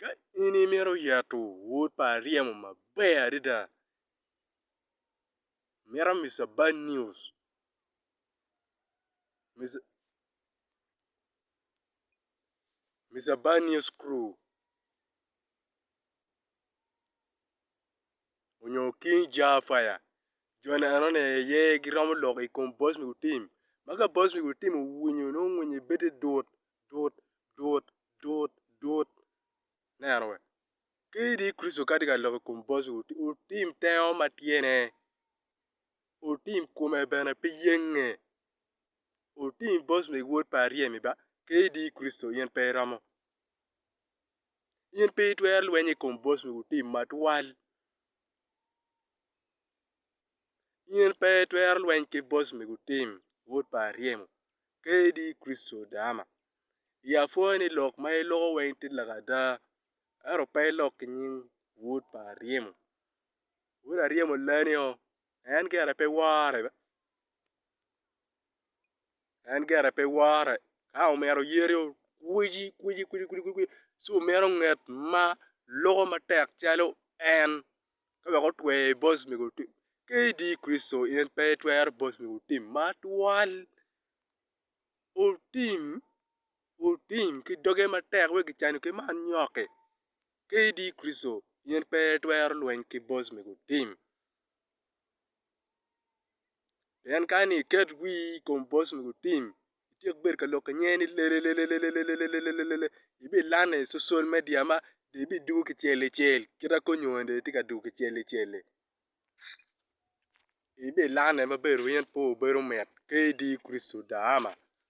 Ka in imito yeto wod pa aryemo maber adada mito Mister Bad News Mister Bad News Crew. onyo King Jah Fire joni enoni aye giromo lok i kom boss me gutim ma ka boss me gutim owinyo nongo ngwinye bedi dut dut dut dut dut ineno wee ka idi Kricito ka itye ka lok i kom boss me gutim otim tengo ma tyene otim kome bene pe yenge otim boss me wod pa aryem ba ka idi Kricito in pe iromo In pe itwero lweny i kom bos wi otim matwal. In pe itwero lweny ki bos wi otim wod pa aryemo. Kadi Kricito dama. I apwoya ni lok ma iloko weng tye lok ada. Ento pe ilok ki nying wod pa aryemo. Wod aryemo lani o. En gire pe wore be. en gire pe wore ka omito yeti okwici kwici kwici ci omito nget ma loko matek calo en ka wek otwe bos mego otim ka idi Kricito in pe itwero bos mego otim ma twal otim otim ki doge matek wek kicano ki ma anyoki ka idi Kricito in pe itwero lweny ki bos mego otim Pien kani iket wii i kom bos mogo tim ityek bedo ka loko nge ni lelelelelelelelelelelele ibilane i social media ma dong ibidugo kicel kicel kit ma kony owene dong itye ka dugo kicel kicel ibilane maber wai in aye obedo mit kadi Kricito daama.